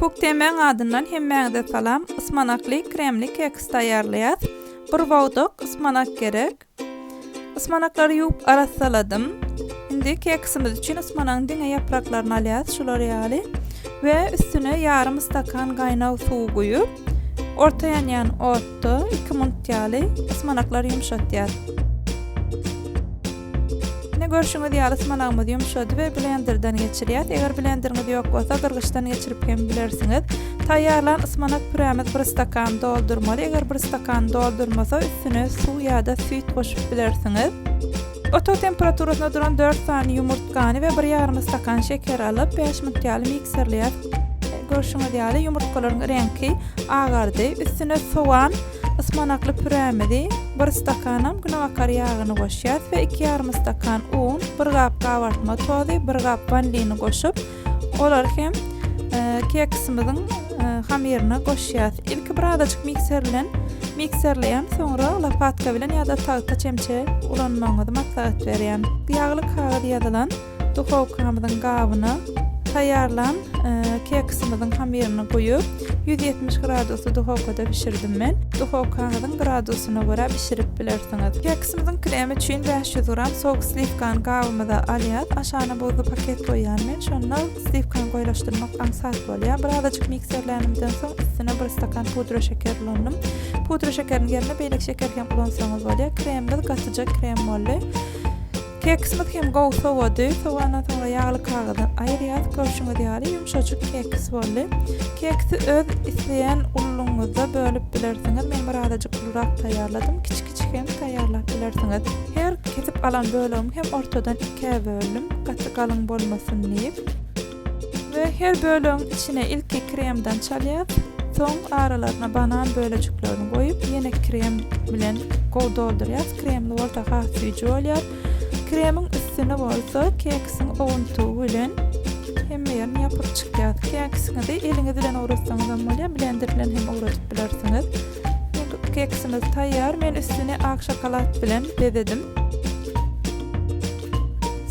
Koktemäň adyndan hemmäňize salam. Ysmanakly kremli keks taýýarlaýas. Bir bogdak ysmanak gerek. Ysmanaklary ýuwup arassaladym. Indi keksimiz üçin ysmanagyň diňe ýapraklaryny alýas, şular ýaly. We üstüne ýarym stakan gaýnag suw guýup, orta ýanýan otda iki minut ýaly ysmanaklary ýumşatýas. Ine görşüňiz ýaly smalagymyz ýumşady we blenderden geçirýäs. Eger blenderiňiz ýok bolsa gyrgyçdan geçirip hem bilersiňiz. Taýýarlan ysmanak pürämiz bir stakany doldurmaly. Eger bir stakany doldurmasa üstüne suw ýa-da süýt goşup bilersiňiz. Otag temperaturasyna duran dört sany ýumurtgany we bir ýarym stakan şeker alyp, bäş minut ýaly mikserleýäs. Görşüňiz ýaly ýumurtgalaryň reňki agardy. Üstüne sowan, Ysmanakly pürämizi, bir stakanam günebakar ýagyny goşýas we iki ýarym stakan un, bir gap gabartma tozy, bir gap wanilini goşup, olary hem keksimiziň hamyryna goşýas. Ilki bir azajyk mikser bilen mikserleýän, soňra lopatka bilen ýa-da tagta çemçe ulanmagyňyzy maslahat berýän. Ýagly kagyz ýazylan Duhowkamyzyň gabyna taýýarlan keksimiziň hamyryny guýup, ýüz ýetmiş gradusly duhowkada bişirdim men. Duhowkaňyzyň gradusyna görä bişirip bilersiňiz. Keksimiziň kremi üçin bäş ýüz gram sok sliwkany gabymyza alýas. Aşagyna buzly paket goýýan men. Şonda sliwkany goýlaşdyrmak aňsat bolýar. Birazajyk mikserlänimden soň üstüne bir stakan pudra şeker ulandym. Pudra şekeriň ýerine beýleki şeker hem ulansaňyz bolýar. Kremimiz gatyjak krem boldy. Keksimiz hem gowy sowady. Sowandan soňra ýagly kagyzdan aýyrýas. Görşüňiz ýaly ýumşajyk keks boldy. Keksi öz isleýän ulylygyňyzda bölüp bilersiňiz. Men bir azajyk ulurak taýýarladym. Kiçi kiçi hem taýýarlap bilersiňiz. Her kesip alan bölegimi hem ortadan ikä böldüm. Gaty galyň bolmasyn diýip. We her bölegiň içine ilki kremden çalýas, soň aralaryna banan bölejiklerini goýup ýene krem bilen gowy doldurýas, kremli bolsa has süýji bolýar. Kremiň üstüni bolsa keksiň owuntygy bilen hemme ýerini ýapyp çykýas. Keksiňizi eliňiz bilen owratsaňyzam bolýar, blender bilen hem owradyp bilersiňiz. Keksimiz taýýar. Men üstüni ak şokolad bilen bezedim.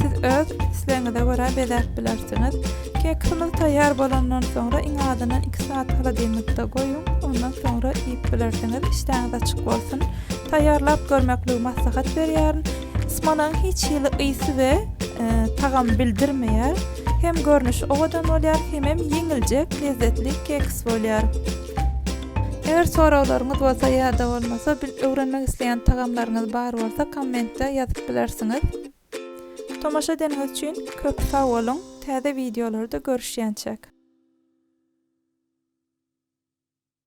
Siz öz islegiňize görä bezäp bilersiňiz. Keksimiz taýýar bolandan soňra iň azyndan 2 saat holodilnikde goýuň. Ondan soňra iýip bilersiňiz. Işdäňiz açyk bolsun. Taýýarlap görmekligi maslahat berýärin. Smonaň hiç hili ysy we e, tagamy bildirmeýär. Hem görnüşi owadan bolýar, hemem ýeňiljek, lezzetli keks bolýar. Eger soraglaryňyz bolsa ýa-da bolmasa bil öwrenmek isleýän tagamlaryňyz bar bolsa kommentde ýazyp bilersiňiz. Tomaşa edeniňiz üçin köp sag boluň, täze wideolarda görüşýänçäk.